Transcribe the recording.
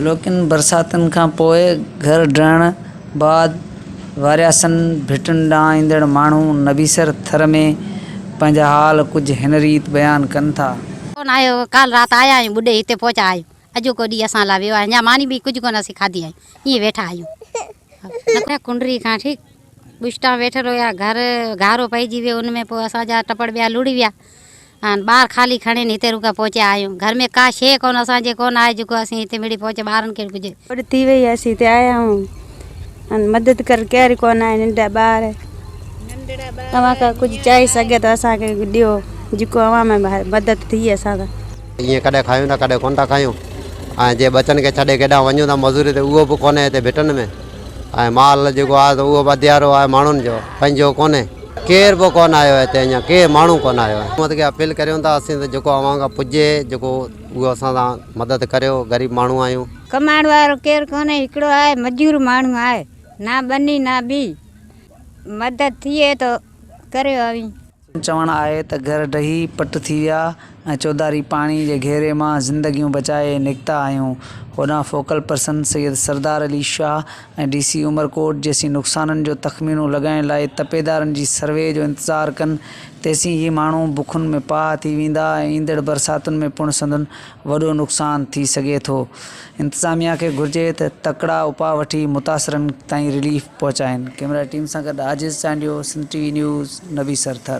هلڪين برساتن کان پوء گهر ڊهڻ بعد وارياسن ڀٽن ڏانهن ايندڙ ماڻهو نبيسر ٿر ۾ پنهنجا حال ڪجهه هن ريت بيان ڪن ٿا. ڪونه آهي او ڪالهه رات آيا آهيون ٻڏي هتي پهچا آهيون اڄوڪو ڏينهن اسان لاء ويو آهي اڃا ماني به ڪجهه ڪونه اسين کاڌي آهيون ائين ويٺا آهيون. مٿي ڪنڊري کان ٺيڪ ٻشٽان ويٺل هيا، گهر گهارو پئجي ويو، ان ۾ پوء اسان جا ٽپڙ ٻيا لڙي ويا ۽ ٻار خالي کڻي هتي رڳو پهچي آيون، گهر ۾ ڪا شيء ڪونه اسان جي ڪونه آهي جيڪو اسين هتي مڙئي پهچي ٻارن کي ڪجهه. گهٽ ٿي وئي اسين هتي آيا آهيون ۽ مدد ڪرڻ ڪير ڪونه آهي ننڍڙا ٻار اوهان ڪا ڪجهه چاهي سگهي ٿو اسان کي ڏيو جيڪو اوهان ۾ مدد ٿئي اسان سان. ايئن ڪڏهن کايون ٿا ڪڏهن ڪونه ٿا کايون ۽ جي ٻچن کي ڇڏي ڪيڏانهن وڃون ٿا مزوري تي اهو به ڪونهي هتي ڀٽن ۾ ۽ مال جيڪو آهي اهو به اڌيارو آهي ماڻهن جو پنهنجو ڪونهي ڪير به ڪونه آيو آهي هتي اڃا ڪير ماڻهو ڪونه آيو آهي حڪومت کي اپيل ڪريون ٿا اسين ته جيڪو اوهان کان پڄي جيڪو اهو اسان سان مدد ڪريو غريب ماڻهو آهيون. ڪمائڻ وارو ڪير ڪونهي هڪڙو آهي مزور ماڻهو آهي نه ٻني نه ٻي مدد ٿئي ته ڪريو اوهين. چوڻ آهي ته گهر ڊهي پٽ ٿي ويا ۽ چوڌاري پاڻي جي گهيري مان زندگيون بچائي نڪتا آهيون. هوڏانهن focal person Syed Sardar Ali Shah ۽ D C Umerkot جيسين نقصانن جو تخمينو لڳائڻ لاء تپيدارن جي سروي جو انتظار ڪن تيسين هي ماڻهو بکن ۾ پاهه ٿي ويندا ۽ ايندڙ برساتن ۾ پڻ سندن وڏو نقصان ٿي سگهي ٿو انتظاميا کي گهرجي ته تڪڙا اپاء وٺي متاثرن تائين رليف پهچائين. ڪيمرا ٽيم سان گڏ Aajiz Chandio Sindh T V news Nabi سرٿر.